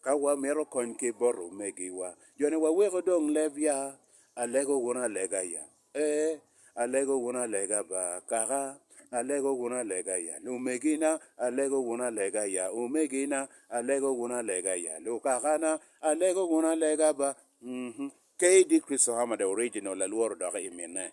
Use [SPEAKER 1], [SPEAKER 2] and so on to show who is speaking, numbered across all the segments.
[SPEAKER 1] Ka wamito kony ki bot omegiwa, joni waweko dong leb ya? Alego wun alega ya? Ee, alego wun alega ba, kaka. Alego wun alega ya, lumegina? Alego wun alega ya, omegina? Alego wun alega ya, lukakana? Alego wun alega ba? Kdi Kristo Hamada Original lalworo dok imine.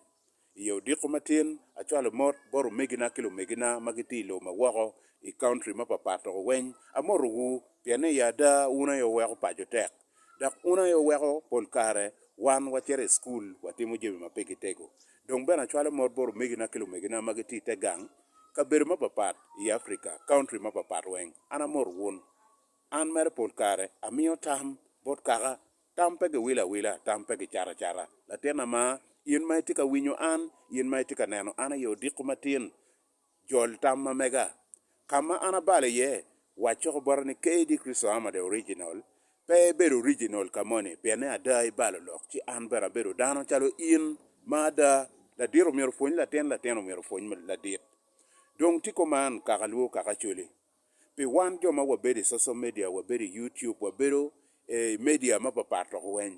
[SPEAKER 1] I yo odiko matin, acwalo mot bot omegina ki lumegina ma gitye i lobo ma woko, i county mapapat dok weny. Amotowu pien ni i ada wun aye wuweko paco tek, dok wun aye wuweko pol kare wan wacito i cukul watimo jami ma pigi tego. Dong bene acwalo mot bot omegina ki lumegina ma gitye i te gang, kabedo mapapat i Africa, county mapapat weng. An amoto wun. An mere pol kare amiyo tam bot kaka Tam pe giwilo awila, tam pe gicato acata. Latin ama, in ma itye ka winyo an, in ma itye ka neno an aye odiko matin, jol tam ma mega. Ka ma an abalo iye, waco bota ni KD. Chrisohama the Original, pe ibedo original ka moni, pien ni ada ibalo lok, ci an bene abedo dano calo in ma ada. Ladit omyero opwony latin, latin omyero opwony ladit. Dong tiko man, kaka lwo kaka coli. Pi wan jo ma wabedo i social media, wabedo i YouTube, wabedo i media mapapat lok weny,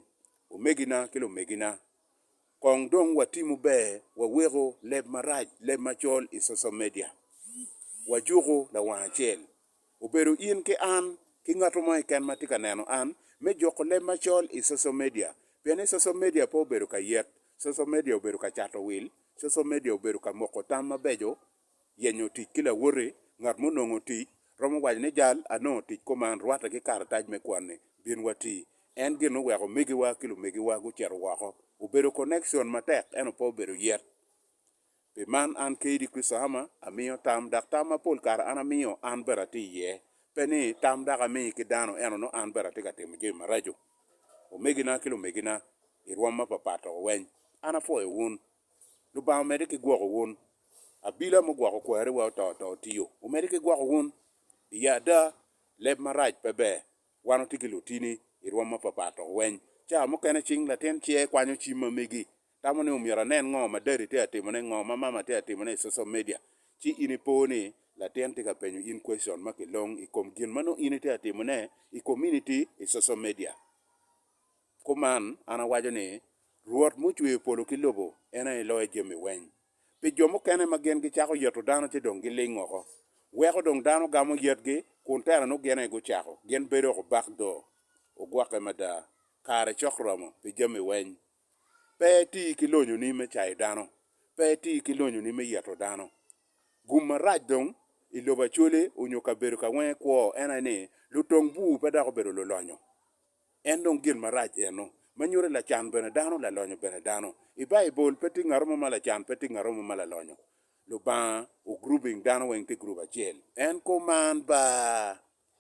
[SPEAKER 1] omegina ki lumegina, kong dong watimo ber waweko leb marac, leb macol i social media. Wajuku lawang acel, obedo in ki an ki ngat mo keken ma tye ka neno an, me juko leb macol i social media. Pien ni social media pe obedo ka yet, social media obedo ka cato wil, social media obedo ka moko tam mabeco Yenyo tic ki lawoti ngat ma onongo tic romo waco ni, Jal anongo tic kuman rwatte ki karatac me kwan-ni, bin wati. En gin oweko omegiwa ki lumegiwa gucito woko. Obedo konekcon matek ento pe obedo yet. Pi man, an kadi Christahama amiyo tam, dok tam ma pol kare an amiyo an bene atye iye. Pe ni tam dako ami ki dano ento nongo an bene atye ka timo jami maraco. Omegina ki lumegina i rwom mapapat doko weny, an apwoyo wun. Lubanga omedde ki gwoko wun. Abila mugwoko kwariwa oto to otiyo. Omedde ki gwoko wun. Iye ada, leb marac pe ber. Wan watye ki lutini i rwom mapapat dok weny ca mukene cing latin ce kwanyo cim ma megi tamo ni myero anen ngo ma dadi tye ka timone, ngo ma mama tye ka timone i social media. Ci in ipo ni latin tye ka penyo in question ma kilong i kom gin ma nongo in itye ka timone i community i social media. Kuman, an awaco ni, Rwot mucweyo polo ki lobo en aye loyo jami weny. Pi jo mukene ma gin gicako yeto dano ci dong giling woko. Weko dong dano gamo yetgi, kun tera nongo gin aye gucako. Gin bedo woko bak do. Ogwokke mada. Kare cok romo pi jami weny. Pe iti ki lonyoni me cayo dano. Pe iti ki lonyoni me yeto dano. Gum marac dong i lobo Acwele onyo kabedo ka wenge kwo en aye ni, lutong bur pe dok obedo lulonyo. En dong gin marac eno, ma nyuto ni lacan bene dano, lalonyo bene dano. I Baibul, pe tye ngat mo ma lacan, pe tye ngat mo ma lalonyo. Lubanga o grouping dano weng tye group acel. En kuman baa.